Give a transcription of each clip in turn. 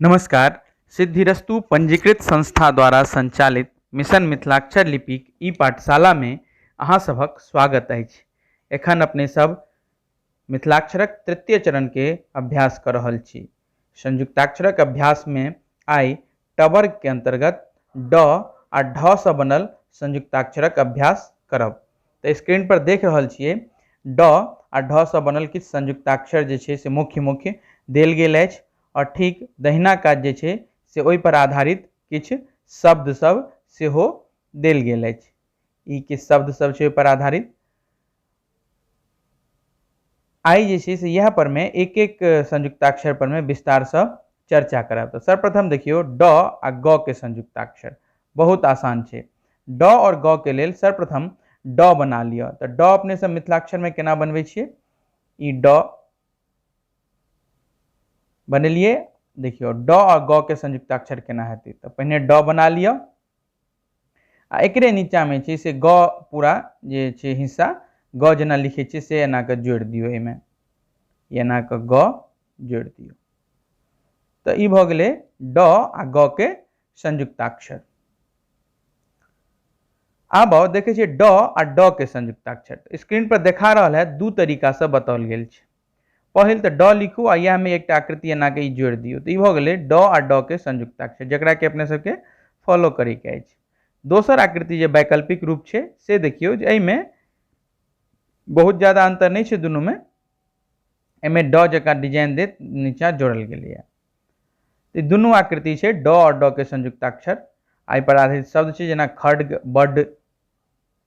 नमस्कार सिद्धिरस्तु पञ्जीकृत संस्था द्वारा सञ्चालित मिशन मिथिलाक्षर लिपिक ई पाठशालामे अहाँ सभक स्वागत अछि एखन अपने सभ मिथिलाक्षरक तृतीय चरणके अभ्यास कऽ रहल छी संयुक्ताक्षरक अभ्यासमे आइ 'ट'वर्ग के अंतर्गत 'ड' आ 'ढ' सँ बनल संयुक्ताक्षरक अभ्यास करब। त स्क्रीन पर देख रहल छियै 'ड' आ 'ढ' सँ बनल किछु संयुक्ताक्षर जे छै से मुख्य-मुख्य देल गेल अछि आओर ठीक दहिना कात जे छै से ओहि पर आधारित किछु शब्द सब सेहो देल गेल अछि। ई किछु शब्द सब छै ओहि पर आधारित। आइ जे छै से इएह पर में एक एक संयुक्ताक्षर पर में विस्तार से चर्चा करब तो सर्वप्रथम देखियो ड आ ग के संयुक्ताक्षर बहुत आसान है ड और ग के लेल सर्वप्रथम ड बना लियो तो ड अपने सब मिथिलाक्षर में केना बनबे छे ई ड बनेलिए देखियो ड और ग के संयुक्ताक्षर केना हेतै तो पहले ड बना लियो आ एकरे नीचाँमे छै से ग पूरा जे छै हिस्सा ग जेना लिखै छियै से एना कऽ जोड़ि दियौ एहिमे एना कऽ ग जोड़ि दियौ तऽ ई भऽ गेलै ड आ ग के संयुक्ताक्षर आब आउ देखै छियै ड आ ड के संयुक्ताक्षर स्क्रीन पर देखा रहल है दू तरीका से बताओल गेल छै पहिल तऽ ड लिखू आ इएह में एकटा आकृति एना के ई जोड़ि दियौ तऽ ई भऽ गेलै ड आ ड के संयुक्ताक्षर जकरा के अपने सबके फॉलो करे के अछि दोसर आकृति जे वैकल्पिक रूप छै से देखियौ जे एहिमे बहुत ज्यादा अंतर नहि छै दुनू में एहिमे ड जकाँ डिजाइन देत नीचा जोड़ल गेलैए तऽ ई दुनू आकृति छै ड आओर ड के संयुक्ताक्षर आ एहिपर आधारित शब्द छै जेना खड्ग बड्ड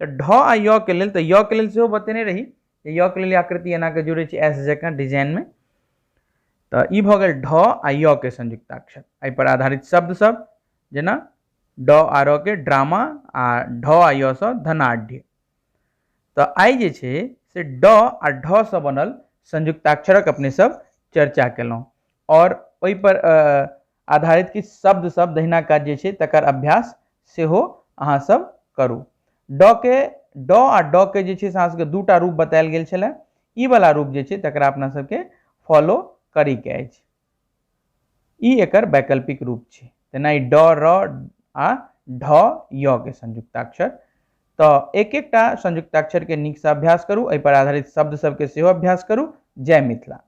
तऽ ढ आ य के लेल तऽ य के लेल सेहो बतेने रही जे य के लेल आकृति एना के जोड़े छी एस जकाँ डिजाइन में तऽ ई भऽ गेल ढ आ य के संयुक्ताक्षर एहि पर आधारित शब्द सब जेना ड आ र के ड्रामा आ ढ आ य सँ धनाढ़ तऽ आइ जे छै से ड आ ढ सँ बनल संयुक्ताक्षरक अपने सब चर्चा केलहुँ आओर ओहि पर अ, आधारित किछु शब्द सब दहिना काज जे छै तकर अभ्यास सेहो अहाँ सब करू ड के ड आ ड के जे छै से अहाँ सबके दूटा रूप बतायल गेल छलै ई वाला रूप जे छै तकरा अपना सबके फॉलो करी के अछि ई एकर वैकल्पिक रूप छै तेना ई ड र आ ढ य के संयुक्ताक्षर तो एक एकटा संयुक्ताक्षर के नीक से अभ्यास करू एहि पर आधारित शब्द सबके सेहो अभ्यास करू जय मिथिला